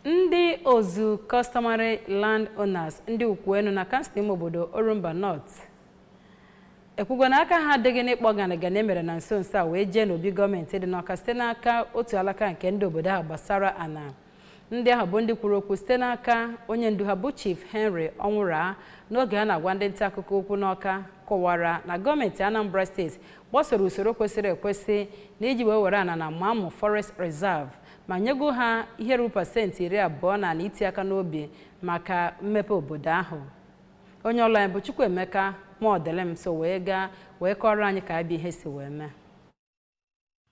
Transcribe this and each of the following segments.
ndị ozu customary land owners ndị ukwuenu na kansụl ime obodo orumba north ekwugo na aka ha adịghị n'ịkpọ ganịganị e mere na nso nso a wee jee n'obi gọọmenti dị n'ọka site n'aka otu alaka nke ndị obodo ahụ gbasara ana ndị ahụ bụ ndị kwuru okwu site n'aka onye ndu ha bụ chief henry ọnwụra n'oge a na-agwa ndị nta akụkọ okwu n'ọka kọwara na gọọmenti anambra steeti gbasoro usoro kwesịrị ekwesị na iji wee were ana na mamụ forest reserve ma nyego ha ihe ruru pasenti iri abụọ n'ana iti aka n'obi maka mmepe obodo ahụ. Onye ọlụ anyị bụ Chukwuemeka Mọdịlịm so wee gaa wee kọọrọ anyị ka ya bụ ihe si wee mee.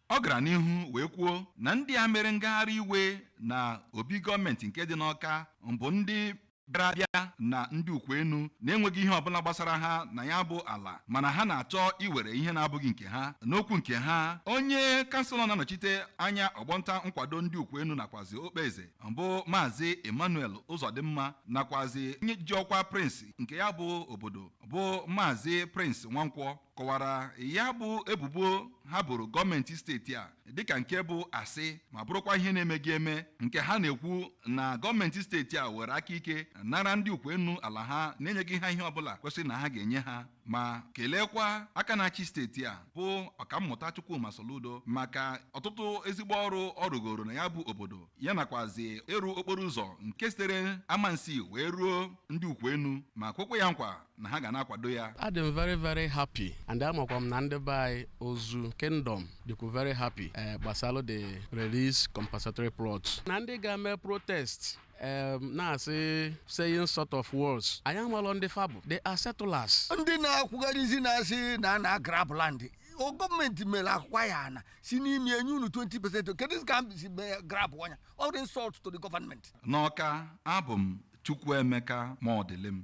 Ọ gara n'ihu wee kwuo na ndị a mere ngagharị iwe na obi gọọmenti nke dị n'Awka bụ ndị bịara abịa na ndị ukwuenu na-enweghị ihe ọbụla gbasara ha na ya bụ ala mana ha na-achọ iwere ihe na-abụghị nke ha n'okwu nke ha onye kanselọ na-anọchite anya ọgbọnta nkwado ndị ukwuenu nakwazi okpeze bụ maazị emmanuel ụzọdịmma nakwazi onye ji ọkwa prince nke ya bụ obodo bụ maazị prince nwankwọ kọwara ya bụ ebubo ha boro gọọmenti steeti a dịka nke bụ asị ma bụrụkwa ihe na-emeghị eme nke ha na-ekwu na gọọmenti steeti a were aka ike nara ndị ukwuenu ala ha na-enyeghị ha ihe ọbụla kwesịrị na ha ga-enye ha ma keleekwa aka na-achị steeti a bụ ọkammụta Chukwuma Soludo maka ọtụtụ ezigbo ọrụ ọ rụgoro na ya bụ obodo ya nakwazi ịrụ okporo ụzọ nke sitere amansi wee ruo ndị ukwuenu ma kwekwa ya nkwa na ha ga na-akwado ya adị m very very happy and amakwa m na ndị be anyị ozu kingdom dịkwu very happy eh, gbasalụ the release compensatory plot na ndị ga-eme protest em, na-asị saying sort of words anyị amalọ ndị fa bụ they are settlers ndị na-akwụgharịzi na-asị na a na-agrab land o gọọmenti mere acquire ana si n'ime enye unu 20 percent keduzi ka m si mee grab ana ya ọ dị insult to the government n'ọka abụ m chukwuemeka mọdịlịm